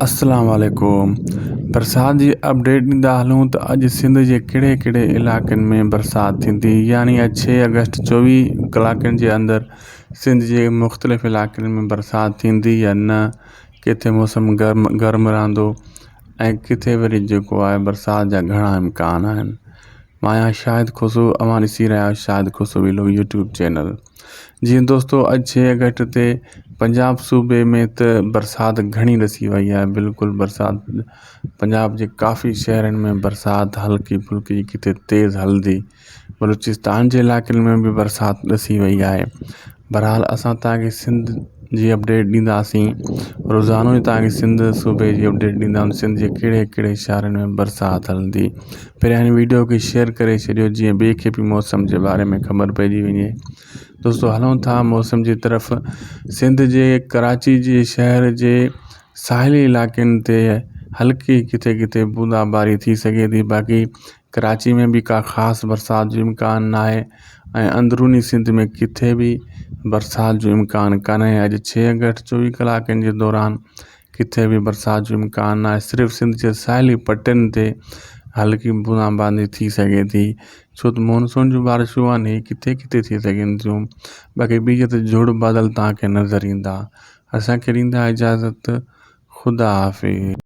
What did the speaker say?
اسلام عليڪم برسات جي اپڊيٽ ڏيندا هلون ته اڄ سنڌ جي ڪهڙي ڪهڙي علائقن ۾ برسات ٿيندي يعني اڄ ڇهه اگسٽ چويهه ڪلاڪن جي اندر سنڌ جي مختلف علائقن ۾ برسات ٿيندي يا نه ڪٿي موسم گرم گرم رهندو ۽ ڪٿي وري جيڪو آهي برسات جا گهڻا امڪان آهن مايان شاهد کوسو اوهان ڏسي رهيا آهيو شاهد کوسو ويلو يوٽيوب چينل جي دوستو اڄ ڇهه اگسٽ تي پنجاب صوبي ۾ ته برسات گهڻي ڏسي وئي آهي بلڪل برسات پنجاب جي ڪافي شهرن ۾ برسات هلڪي ڦلڪي ڪٿي تيز هلندي بلوچستان جي علائقن ۾ به برسات ڏسي وئي آهي بھرحال اسان تنهنکي سنڌ جي اپڊيٽ ڏينداسين روزانو ئي تنهنکي سنڌ صوبي جي اپڊيٽ ڏينداسين سنڌ جي ڪهڙي ڪهڙي شھرن ۾ برسات هلندي پھرين ھن ويڊيو کي شيئر ڪري ڇڏيو جيئن ٻئي کي به موسم جي باري ۾ خبر پئجي وڃي دوستو ھلون ٿا موسم جي طرف سنڌ جي ڪراچي جي شهر جي ساحلي علائقن تي ھلڪي ڪٿي ڪٿي بوندا باري ٿي سگهي ٿي باقي ڪراچي ۾ به ڪا خاص برسات جو امڪان ناهي ۽ اندروني سنڌ ۾ ڪٿي به برسات جو امڪان ڪانهي اڄ ڇهه اگسٽ چوويهه ڪلاڪن جي دوران ڪٿي به برسات جو امڪان ناهي صرف سنڌ جي ساحلي پٽين تي هلڪي بوندا باندي ٿي سگهي ٿي ڇو ته مونسون جون بارشون آهن هي ڪٿي ڪٿي ٿي سگهن ٿيون باقي ٻي جت جهڙ بادل تهانکي نظر ايندا اسانکي ڏيندا اجازت خدا حافظ